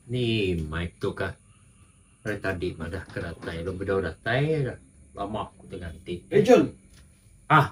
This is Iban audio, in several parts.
Ni mic tu kah ari tadi madah ke datai lalu bedau datai lama ku tengah enti. Ah.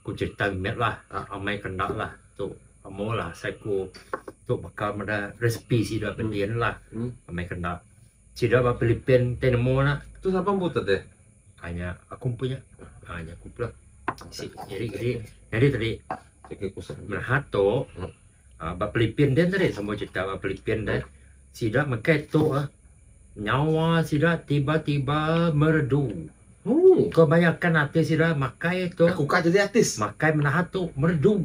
Ku Cetang mit lah amai ke enda lah tu amu lah asai ku tu baka meda resipi sida ke din lah amai ke enda sida ba Philippine ti nemu nya. Tu sapa empu tu deh. Ha nya aku empu nya. Ha nya aku empu lah. Isi iri iri nyadi tadi. Menahat tu. Ba Pilipin din tadi semua cerita ba Pilipin deh sida mega tu nyawa sida tiba-tiba merdu. Ko bayangkan ati sida makai tu. Aku ka jadi artis. Makai menaha tu merdu.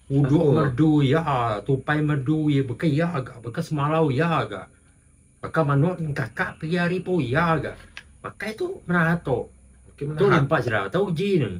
Udok merdu iya tupai merdu iya baka iya ga baka semalau iya ga. Baka manut engkaka pagi hari pun iya ga. Makai tu menaha tu. Tu impak sida tau uji ne.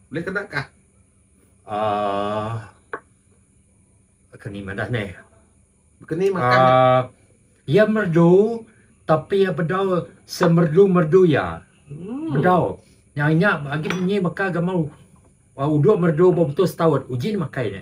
Ulih kena kah? Aaa. Keni madah neh. Keni makan neh. Aaa. Iya merdu tapi iya bedau semerdu-merdu iya. Ooh. Bedau. Nya inya agi munyi meka gamal uduk merdu bau betul setaut. Uji neh makai nya.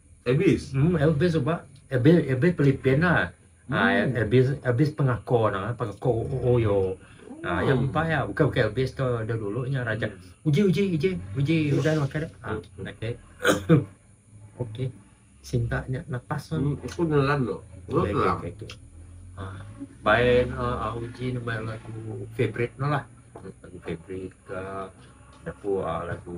Abis. Hmm abis suba abis abis pelipin la. Ha abis abis pengako no pengako oyo. Ha yang empai ya bukan bukan abis tu dah dulu nya raja. Uji uji uji uji udah makan dah. Ha okey. Okey. Sinta nya lepas tu. Hmm aku nelan tu. Okey okey okey. Ha bai uh, uji nama lagu favorite no lah. Lagu favorite uh, aku uh, lagu